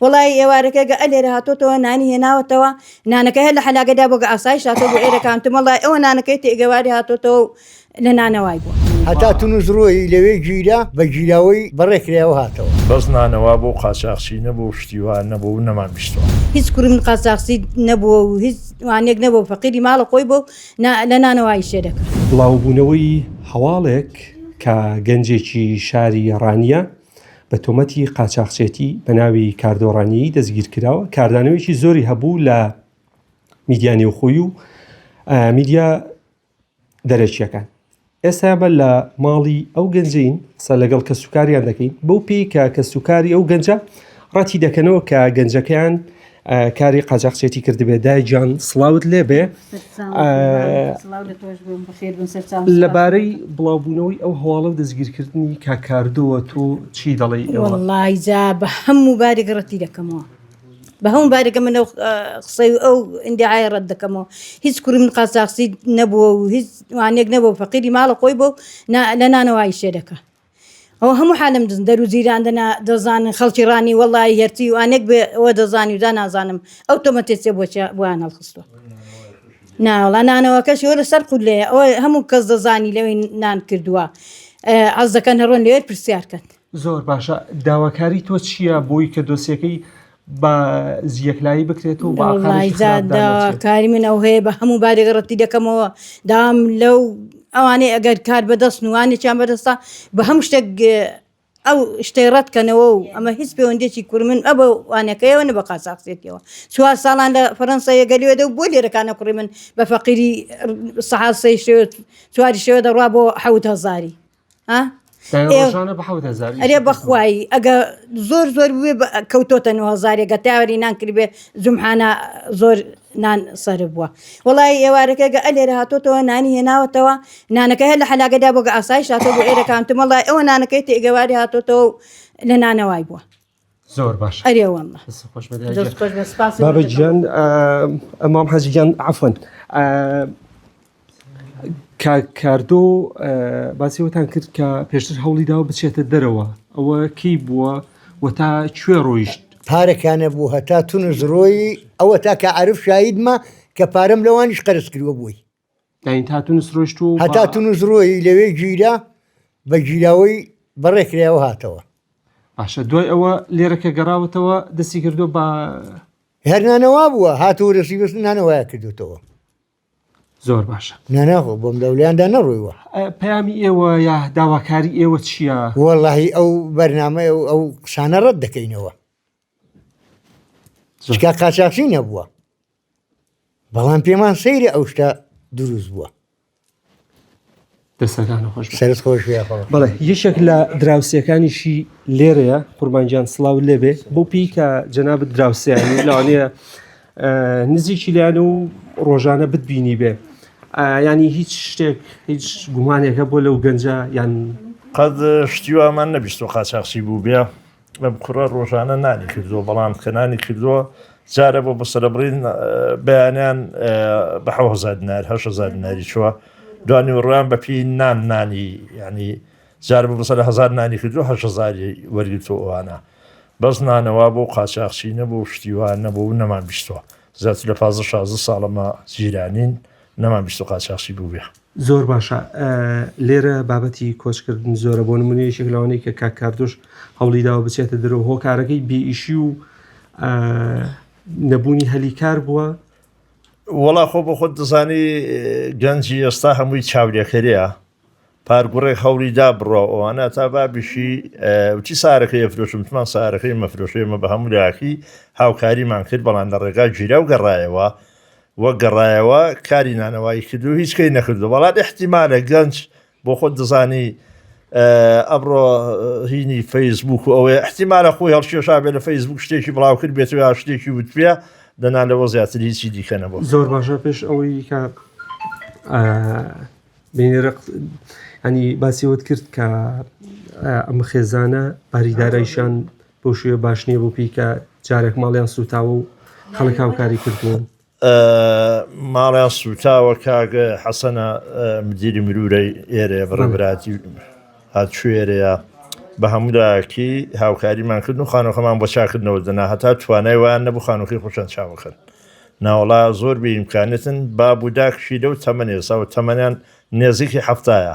وەڵایی ئێوارەکە گە ئەلێرە هاتۆتەوە نانی هێناوەتەوە نانەکە هەر لە حەلاگەدا بۆ گە ئاسای شاتۆ بۆ ئێرەکان تمەڵای ئەوە نانەکەی تێگەواری هاتۆتەوە و لە نانەوای بووە هەتا تونس ڕۆیی لەوێ گیرا بە گیراوەی بەڕێ کرایەوە هاتەوە. بەس نانەوا بۆ قاچاخچی نەبوو شتی وا نەبوو نەمان بیستوە. هیچ کوڕم قاچاخچی نەبووە و هیچ وانەیەک نەبووە فەقیری ماڵە خۆی بووە و نا لە نانەوایی شێ دەکرد. بڵاوبوونەوەی هەواڵێک کە گەنجێکی شاری ڕانیە بە تۆمەتی قاچاخچێتی بە ناوی کاردۆڕانیی دەستگیرکراوە کاردانەوەیکی زۆری هەبوو لە میدیا نێوخۆی و میدیا دەرەکیەکان ئێستا بە لە ماڵی ئەو گەنجین قسە لەگەڵ کە سوکاریان دەکەین بەو پێی کە کە سوکاری ئەو گەنجە ڕەتی دەکەنەوە کە گەنجەکەیان کاری قاجاقچێتی کردبێ دای جان سلااوت لێبێ لەبارەی بڵاوبوونەوەی ئەو هەواڵە و دەستگیرکردنی کاکاردەوە تۆ چی دەڵی ئەوڵایجا بە هەموو بارێک ڕەتی دەکەمەوە بە هەموو بارێکە منە قسەی ئەو ئەندعاای ڕەت دەکەمەوە هیچ کوورم قاچاقسی نەبووە و هیچ وانێک نەبوو فەقیری ماڵە خۆی بۆ لە نانەوەی شێ دەکە ئەوە هەموو حالم دز دەرو جیران دەنا دەزانن خەڵکی ڕانی وەڵای هەرچی و ئانێک بێ ئەوە دەزانی و دا نازانم ئەو تۆمەتێ چێ بۆچە بۆیان هەڵخستوە ناوەڵا نانەوەکەش وەرە سەر قول لێ ئەوە هەموو کەس دەزانی لەوەی نان کردووە عەز دەکەن هەڕۆن لێت پرسیار کەن زۆر باشە داواکاری تۆ چییە بۆی کە دۆسیەکەی بە یەکلایی بکرێت و کاری من ئەو هەیە بە هەموو بارێک ڕەتی دەکەمەوە دام لەو ئەوانەی ئەگەر کار بەدەست نوانێکیان بەدەستە بە هەموو شتێک ئەو شتەی ڕەتکەنەوە و ئەمە هیچ پەیوەندێکی کورمن ئە بە وانەکەیەوە نە بە قاساقسێتەوە چوار ساڵان لە فەرەنسا یەگەلێدە و بۆ لێرەکانە کوڕی من بە فەقیری سەحاسەی شێت چواری شێوە دەڕوا بۆ حەوت هەزاری ئەرێ بەخوایی ئەگە زۆر زۆر بێ کەوتۆتە نوهزارێگە تاوەری نانکرد بێ زمحانە زۆر نان سەر بووە وڵی ئێوارەکەگە ئەلێرە هاتۆتەوە نانی هێناوەتەوە نانەکە هەر لە حلاگەدا بۆگە ئاسایش هاتۆ بۆ ئێرەکانتمەڵە ئەوە نانەکەی تێگەواری هاتۆتەوە لە نانەوای بووە زۆر باش ئەرێ واللە دەست خۆش بێت دەست خۆش بێت سپاس بابە گیان ئەمام حەجی گیان عەفوا کاردۆ باسیەوەتان کرد کە پێشتر هەوڵی داوە بچێتە دەرەوە ئەوە کەی بووە و تا کوێ ڕۆیشت پارەکانە بوو هەتا تونس ڕۆی ئەوە تاکە عرف شایدمە کە پارەم لەوانیش قەرز کردوە بووی هەتا تونس ڕۆیشت و هەتا تونس ڕۆی لەوێ گیرا بە گیراوەی بەڕێکرایەوە هاتەوە باشە دوای ئەوە لێرە کە گەڕاوەتەوە دەستی کردو بە هەرنانەوا بووە هاتەوە دەستی بەست نانەوەیا کردوتەوە زۆر باشە ناناخۆ بۆم دەولیاندا نەڕوویوە پامی ئێوە یا داواکاری ئێوە چییە؟ وەڵی ئەو بەرنمە ئەو ئەو قسانە ڕەت دەکەینەوە شکا قاچاقچی نەبووە بەڵام پێمان سەیرە ئەو شتە دروست بووە دەستەکان خۆش سەرت خۆش بەڵێ یەشێک لە دراوسەکانیشی لێرەیە قوربانجان سلااو لێبێ بۆ پێی کە جەناب دراوسیانی لاوانەیە نزیکی لیان و ڕۆژانە بتبینی بێ ینی هیچ شتێک هیچ گومانێکە بۆ لەو گەنجە یان قەت شتیوامان نەبیست و قاچاقچی بوو بێ ئەم کوڕە ڕۆژانە نانی کردووە بەڵام کە نانی کردووە جارە بۆ بە سەرەبڕین بەیانیان بە حەوهزار دینار هەش هزار دیناری چووە دوانی وڕیان بەپی نان نانی ینی جار بۆ بەسەر هزار نانی کردو هەش هزاری وەرگتو ئەوانە بەس نانەوە بۆ قاچاخچی نەبوو شتیوان نەبوو نەمان بیستوە زیاتر لە پازە شازە ساڵەمە جیرانین نەمان بیست و قاچاخچی بووبێ زۆر باشە لێرە بابەتی کۆچکردن زۆرە بۆ نمونە یەکێک لەوانەی کە کاک کاردۆش هەوڵی داوە بچێتە درۆ هۆکارەکەی بێئیشی و نەبوونی هەلی کار بووە وەڵا خۆ بۆ خۆت دەزانی گەنجی ئێستا هەمووی چاودێکەرەیە پارگوڕێک هەوڵی دا بڕە ئەوانە تا بابیشی وچی سارەکەی ئەفرۆشم تمان سارەکەی مەفرۆشێمە بە هەموو لاکی هاوکاریمان کرد بەڵام لە ڕێگا گیرا و گەڕایەوە وە گەڕایەوە کاری نانەوایی کردو هیچ کەی نەکردو بەڵام احتیمالە گەنج بۆ خۆت دەزانی ئەمڕۆ هینی فەیسبوک و ئەوەیە احتیمالە خۆی هەڵکێشا بێ لە فەیسبوک شتێکی بڵاوکرد بێت یا شتێکی وتپێ دەنا لەوە زیاتر هیچی دیکە نەبوو زۆر باشە پێش ئەوەی کە بینێرە ئەنی باسیوت کرد کە ئەم خێزانە باریدارایشان بەو شێوە باش نییە بۆ پێی کە جارێک ماڵیان سووتاوە و خەڵک هاوکاری کردوون. ماڵیان سووتاوە کاک حەسەنە مدیری مرورەی ئێرەیە بە ڕێبراتی هاتشوێرەیە بە هەموو لایەکی هاوکاریمان کرد و خانۆکەمان بۆ چاکردنەوە دەنا هەتا توانای وان نەبوو خانۆکەی خۆشان چاوەکەن ناوەڵا زۆر بێ ئیمکانێتن باب و داکشی لەو تەمەنێ ساو تەمەنیان نێزیکی هەفتایە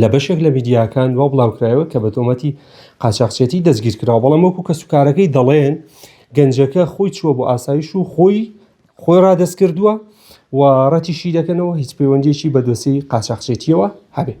لە بەشێک لە میدیاکان وا بڵاوکرایەوە کە بە تۆمەتی قاچاخچێتی دەستگیرکراوە، بەڵام وەکو کەسوکارەکەی دەڵێن، گەنجەکە خۆی چووە بۆ ئاسایش و خۆی خۆی رادەستکردووە و رەتیشیدەکەنەوە هیچ پەیوەندییەکی بە دۆسیەی قاچاخچێتییەوە هەبێت.